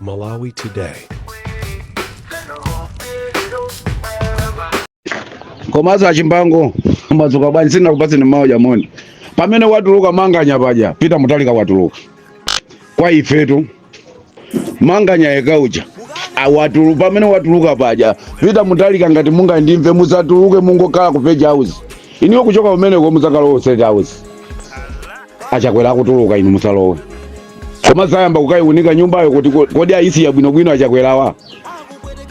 Malawi Today. komanso achimbango madzuka bwanji sinakupatseni mawu aja moni pamene watuluka manganya paja peter mutharika watuluka kwa ifetu manganya yekha uja awatulu pamene watuluka paja peter mutharika ngati mungandimve musatuluke mungokhala ku page house iniwo kuchoka kumeneko muzakhala ku state house achakwera akutuluka inu musalowe koma zayamba kukayiunika nyumbayo kuti ko- kodi ayisiya bwinobwino achakwerawa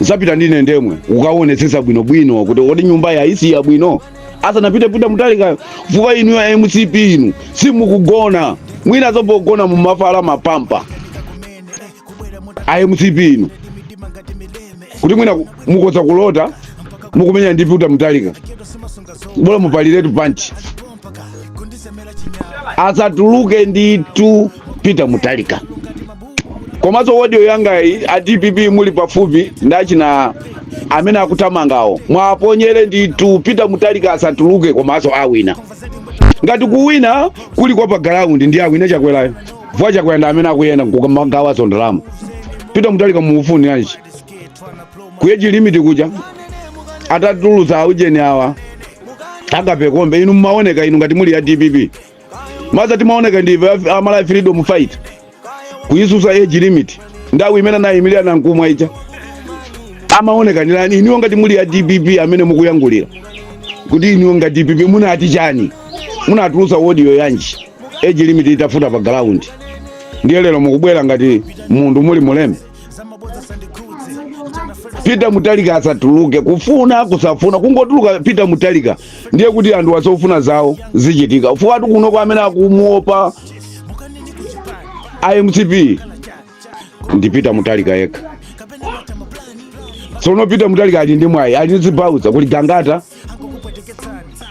nzapita ndine ndemwe kukaonetsetsa bwinobwino kuti kodi nyumbayo ayisiya bwino asanapite peter mutharika fukwa inu a mcp inu simukugona mwinanso pogona mumavala mapampa a mcp inu kuti mwina ku- mukhoza kulota mukumenya ndi peter mutharika bola mupaliretu panchi asatuluke ndithu peter mutharika komanso audio yangayi a dpp muli pafupi ndi achina amene akuthamangawo muwaponyere ndithu peter mutharika asatuluke komanso awina ngati kuwina kuli kwa pa ground ndi awina chakwerayo fukwa achakwera ndi amene akuyenda kukamagawaso ndalama peter mutharika mumufuniranji ku age limit kuja atatulusa aujeni awa akapekombe inu mumaoneka inu ngati muli a dpp maza timaoneka ndi ife amalawi freedom fight kuyisusa age limit nthawi imene anayimilira nankhumwa ija amaoneka ndi nani iniwo ngati muli a dpp amene mukuyankhulira kuti iniwo ngati dpp munati chani munatulusa audio yanji age limit itavuta pa ground ndiye lero mukubwera ngati munthu muli mulembe peter mutharika asatuluke kufuna kusafuna kungotuluka peter mutharika ndiye kuti anthuwa zofuna zawo zichitika fukwatu kunoko amene akumuopa a mcp ndi peter mutharika yekha tsono peter mutharika ali ndi mwayi ali ndi zibaunsa kuli gangata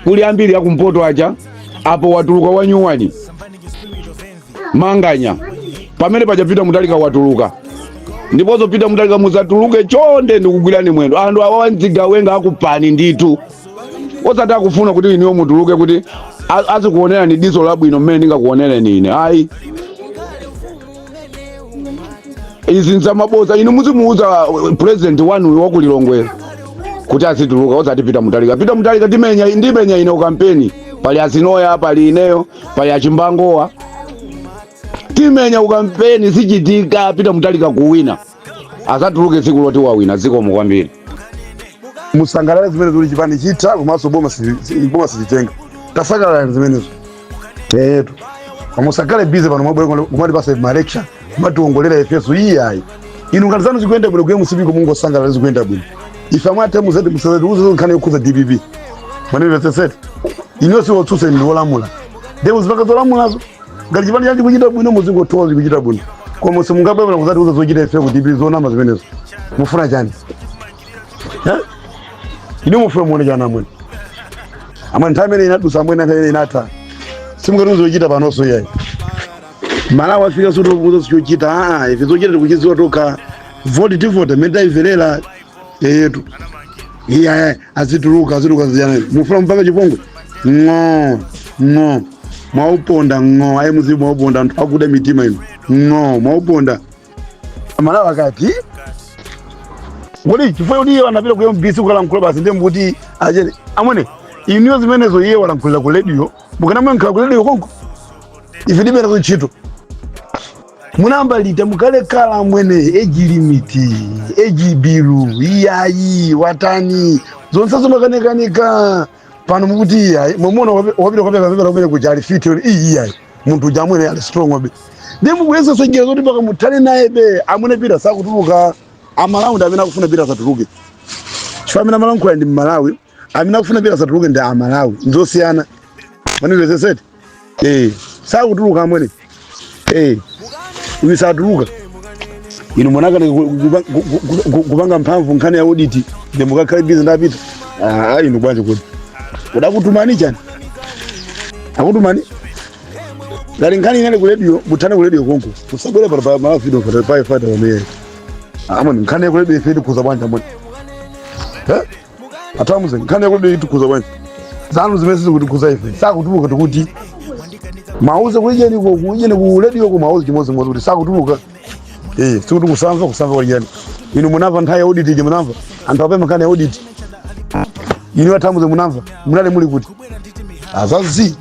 kuli ambiri akumpoto aja apo watuluka wanyuwani manganya pamene paja peter mutharika watuluka ndiponso peter mutharika musatuluke chonde ndikugwirani mwendo anthu awawa nzigawenga akupani ndithu osati akufuna kuti iniwo mutuluke kuti a- azikuonerani diso labwino mmene ndingakuonereni ine ayi izi nzamaboza inu muzimuuza uh, president wanu wa ku lilongwe kuti azituluka osati peter mutharika peter mutharika ndimenya ndimenya ine ukampeni pali azinoya pali ineyo pali achimbangowa timenya ukampeni zichitika peter mutharika kuwina azatuluke tsiku loti wawina zikomo kwambiri musangalale zimene zili chipani chitha komanso boma si- si- boma sichitenga tasangalalani zimenezo eyetu musakhale bizi pano mwabwera kumatipasa malecture kumationgolera ifeso iyayi inu ngati zanu zikuyenda bwino ku mcp ko mungosangalala zikuyenda bwino ife amwathe muzati musazatiuze nkhani yokhuza dpp mwandimvetsetsa eti inuyo siwotsutsa ndi wolamula nde muzipanga zolamulazo ngati chipani chanu chikuchita bwino muzingoti zikuchita bwino koma simungabwere kuzatiuza zochita ife ku dpp zonama zimenezo mufuna chani Eh? inu mufuna muone chani amwene amwene nthawi imene inadusa amwene nthawi imene inatha simungatiuze zochita panonso iyayi amalawi afika sotokuza sichochita aa ife zochita tikuchiziwa tokha voti tivote mmene taimverera eyetu iye azituluka azituluka zijana mufuna mupange chipongwe ng'o ng'o mwauponda ng'o ayi muzimu mwauponda anthu akuda mitima inu ng'o mwauponda amalawi akati kuti chifukwa kuti iye anapita ku mbc kukalankhula basi ndiye mkuti achete amwene inuyo zimenezo iye walankhulira ku radio mukanamuyankhira ku radio konko ife tilibe nazo ntchito munayamba liti kalekale amwene age limit age bill iyayi watani zonse zomakanikanika pano mukuti iyayi mwamuona wapita kukapereka pepala kumene kuja ali fit yoni iyi iyayi munthu uja amwene ali strongbe ndiye mukuyesanso njira zoti mpaka muthane nayebe amwene peter sakutuluka amalawi ndi amene akufuna peter asatuluke chifukwa amene amalankhula ndi mmalawi amene akufuna peter asatuluke ndi amalawi nzosiyana mwandimvetsetsa eti eh sakutuluka amwene eh uyu satuluka inu munakanika ku- ku- ku- ku- ku- kupanga mphamvu nkhani ya audit ndiye mukakhale bizi ndi a peter ah inu bwanji kodi adakutumani chani akutumani ngati nkhani inali ku radio muthane ku radio konko usabwere pano pa malawi video pano pa ifata pamene amwene nkhani ya ku radio ife itikhuza bwanji amwene atamuze nkhani ya ku radio itikhuza bwanji zanu zimene sizikutikhuza ife sakutuluka tikuti mumuuze ku ujeni ku ujeni ku radio kamuuze chimodzimodzi kuti sakutuluka eh sikuti kusamva kusamva ku ujeni inu munamva nthawi ya audit ija munamva anthu apempha nkhani ya audit inu atamuze munamva munali muli kuti azazi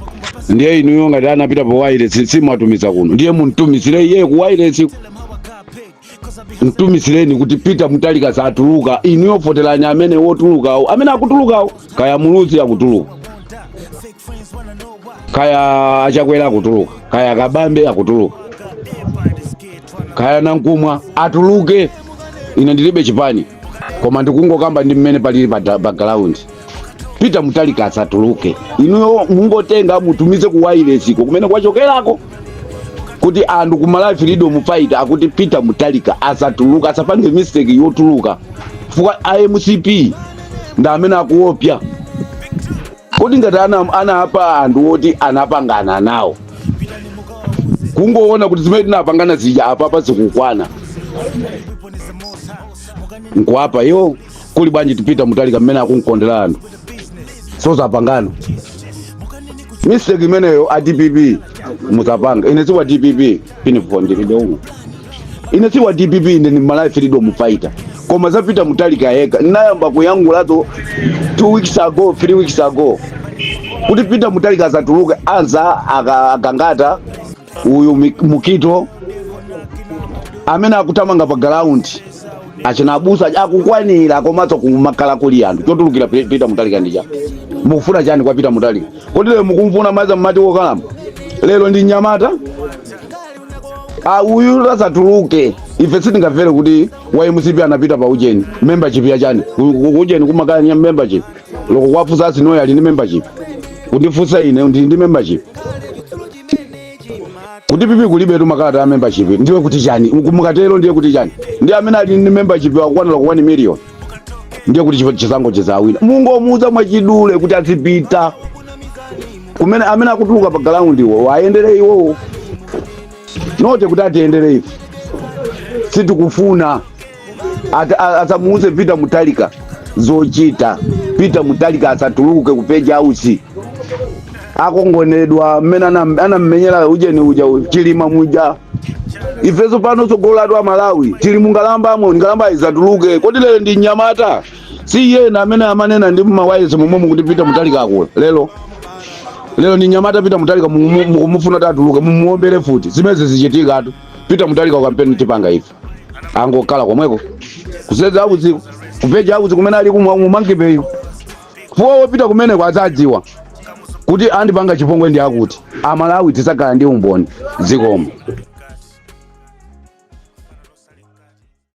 ndiye inuyo ngati anapita pa wailesi simwatumiza kuno ndiye mumtumizire iye ku wailesi mtumizireni kuti peter mutharika satuluka inuyo voterani amene wotulukawo amene akutulukawo kaya muluzi akutuluka kaya a chakwera akutuluka kaya kabambe akutuluka kaya nankhumwa atuluke ine ndilibe chipani koma ndikungokamba ndi mmene palili pa, da- pa ground Peter Mutharika asatuluke inuyo mungotenga mutumize ku wireless iko kumene kwachokerako kuti anthu ku Malawi Freedom Fighter akuti Peter Mutharika asatuluke asapange mistake yotuluka chifukwa a MCP ndi amene akuopya kodi ngati ana- anapha anthu oti anapangana nawo kungoona kuti zimene tinapangana zija apapa zikukwana nkuwapha iwo kuli bwanji Peter Mutharika mmene akumkondera anthu osazapanganso mistake imeneyo a dpp muzapanga ine siwa dpp uniform ndilibe umu ine siwa dpp ine ni malawi freedom fighter koma za Peter Mutharika yekha nayamba kuyankhulazo two weeks ago three weeks ago kuti Peter Mutharika asatuluke aza aka- a Gangata uyu mi- Mukhito amene akutamanga pa galaundi achina abusa aja akukwanira komanso kumakhala kuli anthu chotulukira Pe- Peter Mutharika ndi chani mukufuna chani kwa Peter Mutharika kodi lero mukumfuna mesa mmati wokalamba lero ndi mnyamata Ah, uyu asatuluke ife sitingamvere kuti wa mcp anapita pa ujeni membership ya chani Ku- ku- ujeni kumakhala nya membership loko kwafusa asinoyo ali ndi membership kundifusa ine ndili ndi membership ku DPP kulibetu makalata a membership ndiye kuti chani Muku- mukatero ndiye kuti chani ndi amene ali ndi membership akukwanira ku 1 million ndiye kuti chifa- chisankho chizawina mungomuuza mwachidule kuti azipita kumene amene akutuluka pa ground iwo awayendere iwowo not kuti atiyendere ife sitikufuna Ata- a- asamuuze Peter Mutharika zochita. Peter Mutharika asatuluke ku Page House akangomenyedwa mmene anam- anammenyera ujeni uja u- chilima muja ifeso pano tsogolo lathu a malawi tili mu nkhalambamo nkhalamba isatuluke kodi lero ndi mnyamata si ena amene amanena ndi mmawayilesi momwemu kuti Peter Mutharika akula lero lero ndi mnyamata Peter Mutharika mukumufuna atuluke mumuombere futi zimenezo sizichitikatu Peter Mutharika kampeni tipanga ife angokhala komweko ku Page House ko ku Page House kumene ali ku Monkey Bay ko chifukwa wopita kumeneko adzadziwa kuti andipanga chipongwe ndi akuti amalawi tizakhala ndi umboni zikomo